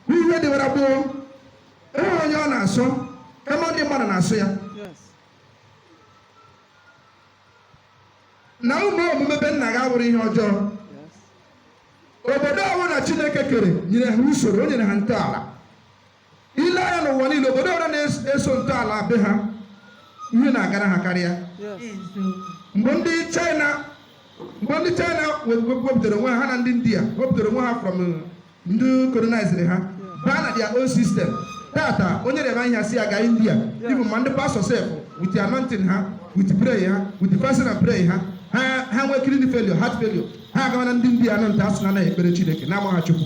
n'ihe dịwara gboo enweghị onye ọ na-asọ kama ndị mmadụ na-asọ ya na ụmụ omume be nna ga wụrụ ihe ọjọọ obodo ọbụla chineke kere nyere ha usoro o nyere ha ntọala i lee anya n'ụwa niile obodo ọbụla na-eso ntọala be ha ihe na-agara ha karịa mgbe ndị china wepụtara onwe ha na ndị india wepụtara onwe ha from ndị colonized ha baa na their own system tata onye na-eme ihe si aga india even ma ndị pastọ sef with the anointing ha with prayer ha with the fasting and prayer ha ha ha nwee kidney failure heart failure ha agawa na ndị india a nọ nta asị na anaghị ekpere chineke na amaghị chukwu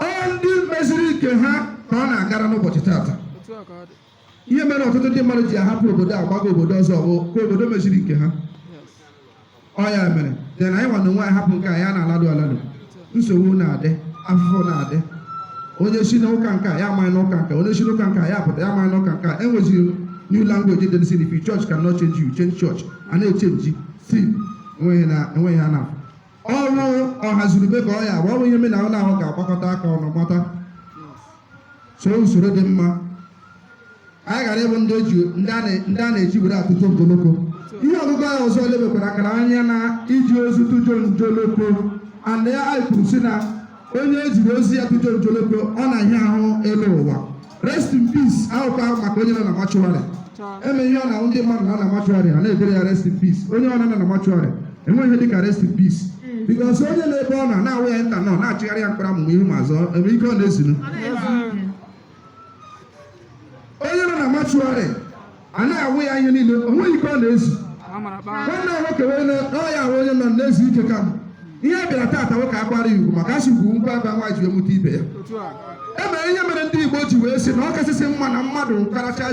ọ ndị meziri nke ha ka ọ na-agara n'ụbọchị taata ihe mere ọtụtụ ndị mmadụ ji ahapụ obodo a gbaga obodo ọzọ bụ ka obodo meziri nke ha ọ ya mere dị na anyị nwa na onwe anyị hapụ nke anyị na-alado alado nsogbu na-adị afụfụ na-adị onye si n'ụka nke a ya amaghị n'ụka nke onye si n'ụka nke a ya pụta ya amaghị n'ụka nke a e nweziri new language dị n'isi if your church cannot change you change church a na-echenji si enweghị na enweghị ha na-afụ ọnwụ ọha zurube ka ọ ya bụ ọnwụ ihe me na ọ na-ahụ ga-agbakọta aka ọnụ bata soo usoro dị mma anyị ghara ịbụ ndị eji- ndị a na- ndị a na-eji were atụjọ njoloko ihe ọgụgụ ahụ ọzọ lebekwara akara anya na iji ozu tụjọ njoloko and ya anyị kwuru sị na onye e jiri ozu ya tụjọ njoloko ọ na-ahịa ahụ ịlọ ụwa rest in peace awụkwaghị maka onye nọ na mọchụarị eme ihe ọ na-ahụ ndị mmadụ nọ na mọchụarị a na-edere ya rest in peace onye nọ na mọchụarị enweghị ihe dịka rest in peace because onye na-ebe ọ nọ na-awụ ya nta nọ na-achịgharị ya mkpụrụ ma ihu ma azụ ebe ike ọ na-ezunu onye nọ na mọchụarị a na-awụ ya ihe niile o nweghị ike ọ na-ezu nwanne ya nwoke wee na ọ ya ahụ onye nọ na-ezu ike ka ihe a bịara taata wụ ka a kwara ya ugwu maka a sị ugwu ngwa aba nwa ji amụta ibe ya e mere ihe mere ndị Igbo ji wee sị na ọ kasịsị mma na mmadụ karacha